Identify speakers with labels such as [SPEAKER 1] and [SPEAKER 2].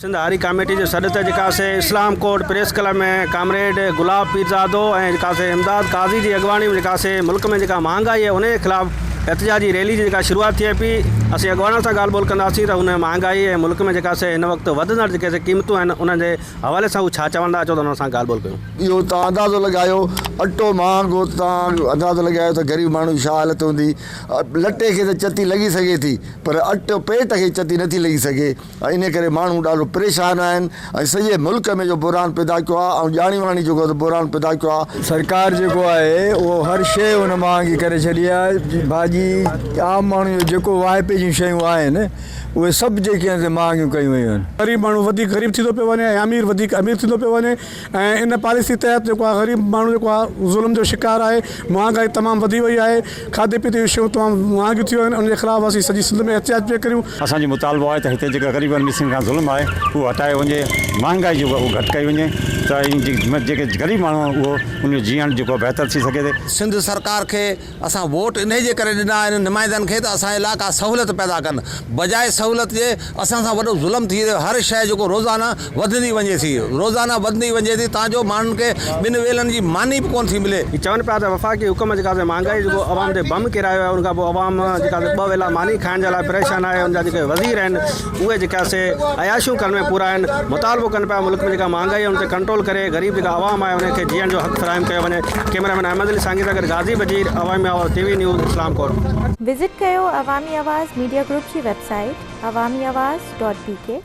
[SPEAKER 1] Sindh Hari committee جي سڏ تي ڪاسي اسلام court press club ۾ comrade Gulab Pirzado ۽ Casey Imdad Qazi جي اڳواڻي ۾ ڪاسي ملڪ ۾ جيڪا مهانگائي آهي انهي خلاف احتجاجي ريلي جي جيڪا شروعات ٿئي پئي اسين اڳواڻن سان ڳالهه ٻولهه ڪنداسين ته هن مهانگائي ۽ ملڪ ۾ جيڪا سي هن وقت وڌندڙ جيڪي سي قيمتون آهن انهن جي حوالي سان هو ڇا چوندا اچو ته انهن سان ڳالهه ٻولهه ڪيون. اهو تان اندازو
[SPEAKER 2] لڳايو اٽو مهانگو تان اندازو لڳايو ته غريب ماڻهو جي ڇا حالت هوندي. لٽي کي ته چتي لڳي سگهي ٿي پر اٽ پيٽ کي چتي نٿي لڳي سگهي ۽ انهي ڪري ماڻهو ڏاڍو پريشان آهن ۽ سڄي ملڪ ۾ جو بحران پيدا ڪيو آهي ۽ ڄاڻي واڻي جيڪو ته بحران پيدا ڪيو آهي. سرڪار جيڪو آهي
[SPEAKER 3] اهو هر شيء ان مهانگي ڪري ڇڏي آهي ڀاڄي عام ماڻهو جو جيڪو واهپي جون شيون آهن اهي سڀ جيڪي آهن سي مهانگيون ڪيون ويون آهن. غريب ماڻهو وڌيڪ غريب
[SPEAKER 4] ٿيندو پيو وڃي ۽ امير وڌيڪ امير ٿيندو پيو وڃي. ۽ ان پاليسي تحت جيڪو آهي غريب ماڻهو جيڪو آهي ظلم جو شڪار آهي مهانگائي تمام وڌي وئي آهي کاڌي پيتي جون شيون تمام مهانگيون ٿي ويون آهن ان جي خلاف اسين سڄي سنڌ ۾ احتجاج پيا ڪريون. اسان جو مطالبو آهي ته
[SPEAKER 5] هتي جيڪا غريبن ميسين کان ظلم آهي اهو هٽايو وڃي مهانگائي جيڪو اهو گهٽ ڪئي وڃي ته جيڪي غريب ماڻهو آهن اهو ان جو جيئڻ جيڪو بهتر ٿي سگهي ٿي. سنڌ سرڪار کي
[SPEAKER 6] اسان ووٽ انهي جي ڪري ڏنا آهن نمائندن کي ته اسان لا ڪا سهولت پيدا ڪن بجاء سهولت جي اسان سان وڏو ظلم ٿي رهيو هر شئي جيڪو روزانه وڌندي وڃي ٿي روزانه وڌندي وڃي ٿي تان جو ماڻهن کي ٻن ويلن جي ماني به ڪونه ٿي ملي. هي چون پيا ته وفاقي
[SPEAKER 1] حڪومت جيڪا سي مهانگائي جيڪو عوام تي بم ڪيرايو آهي ان کان پوء عوام جيڪا سي ٻه ويلا ماني کائڻ جي لاء پريشان آهي ان جا جيڪي وزير آهن اهي جيڪا سي عياشيون ڪرڻ ۾ پورا آهن مطالبو ڪن پيا ملڪ ۾ جيڪا مهانگائي آهي ان تي ڪنٽرول ڪري غريب جيڪا عوام آهي انهن کي جيئڻ جو حق فراهم ڪيو وڃي ڪيمرا مين احمد علي سانگي سان گڏ غازي Wazir Awami Awaz T V news Islam Kot. Visit
[SPEAKER 7] ڪيو عوامي آواز ميڊيا گروپ جي web
[SPEAKER 1] site
[SPEAKER 7] Awami Awaz dot بي ڪي.